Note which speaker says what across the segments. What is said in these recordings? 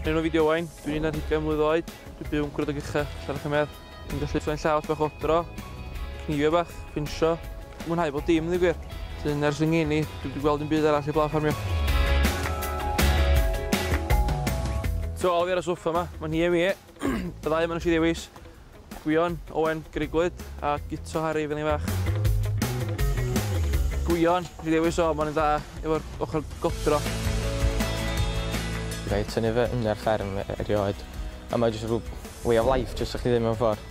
Speaker 1: Rhaid o'n fideo wain, dwi'n un ar hugain mlwydd oed, dwi'n byw yn gwrdd o gycha, allan o'ch ymer. Dwi'n gallu ffyn llaws bach odro, cnifio bach, pinsio, mwynhau bod dim yn gwir. Dwi'n ers yng i, dwi'n gweld yn byd arall i blaen ffarmio. So, alw fi ar y soffa yma, mae'n hi e mi e. Byddai yma'n eisiau ddewis. Gwion, Owen, Grugwyd a Guto Harri pan o'n i'n fach. Gwion, nes i ddewis o, ma' nw'n dda efo'r ochor godro.
Speaker 2: Gai tynnu fy ynni ar fferm e- erioed a mae jyst rw way of life jyst o'ch chi ddim mewn ffor.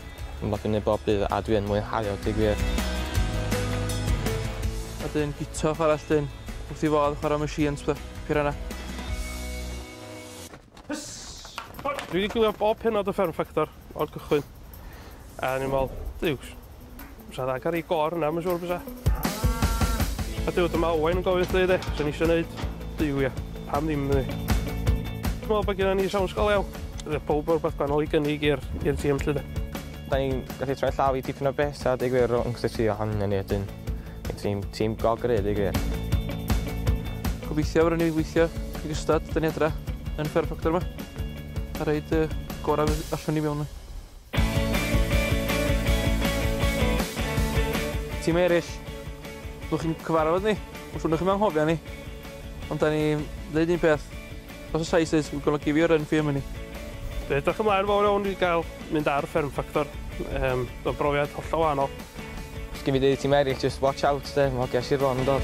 Speaker 2: Yn lwcin neud bob dydd a dwi yn mwynhau o deu gwir.
Speaker 1: A 'dyn Guto chwara 'llun wrth 'i fodd chwara machines petha, piranha.
Speaker 3: Dwi wedi gwylio bob penod o Fferm Ffactor o'r cychwyn. A ni'n meddwl, dyw, sa dda cael ei gor yna, mae'n siŵr bysa. A dyw, dyma Owain yn gofyn wrth dweud e, sy'n eisiau gwneud, dyw ia, pam ddim ni. Dwi'n meddwl bod gen ni sawn sgol iawn. Roedd pob o'r beth gwahanol i gynnig i'r tîm lle de. Da ni'n
Speaker 2: gallu troi llaw i tipyn o beth, a dweud gwir, rhwng cysylltu o hangen ni ydyn. Tîm, tîm go gry, dweud gwir.
Speaker 1: Gobeithio fyrwn ni weithio i gystad dyn ni adra yn Fair Proctor yma. A reid y gorau allwn ni mewn. Tîm eraill, ddwch chi'n cyfarfod ni, wrth wnwch chi'n anghofio ni. Ond da ni'n dweud un peth, Os oes eisoes, fe golygu fi o Renfrew am hynny. Dwi edrych ymlaen
Speaker 3: fawr iawn i gael mynd ar Fferm Ffactor. Yym, mae'n brofiad hollol wahanol. Os gei fi ddeud i
Speaker 2: tîm eraill, just watch out 'de, ma' hogia Sir Fôn yn dod.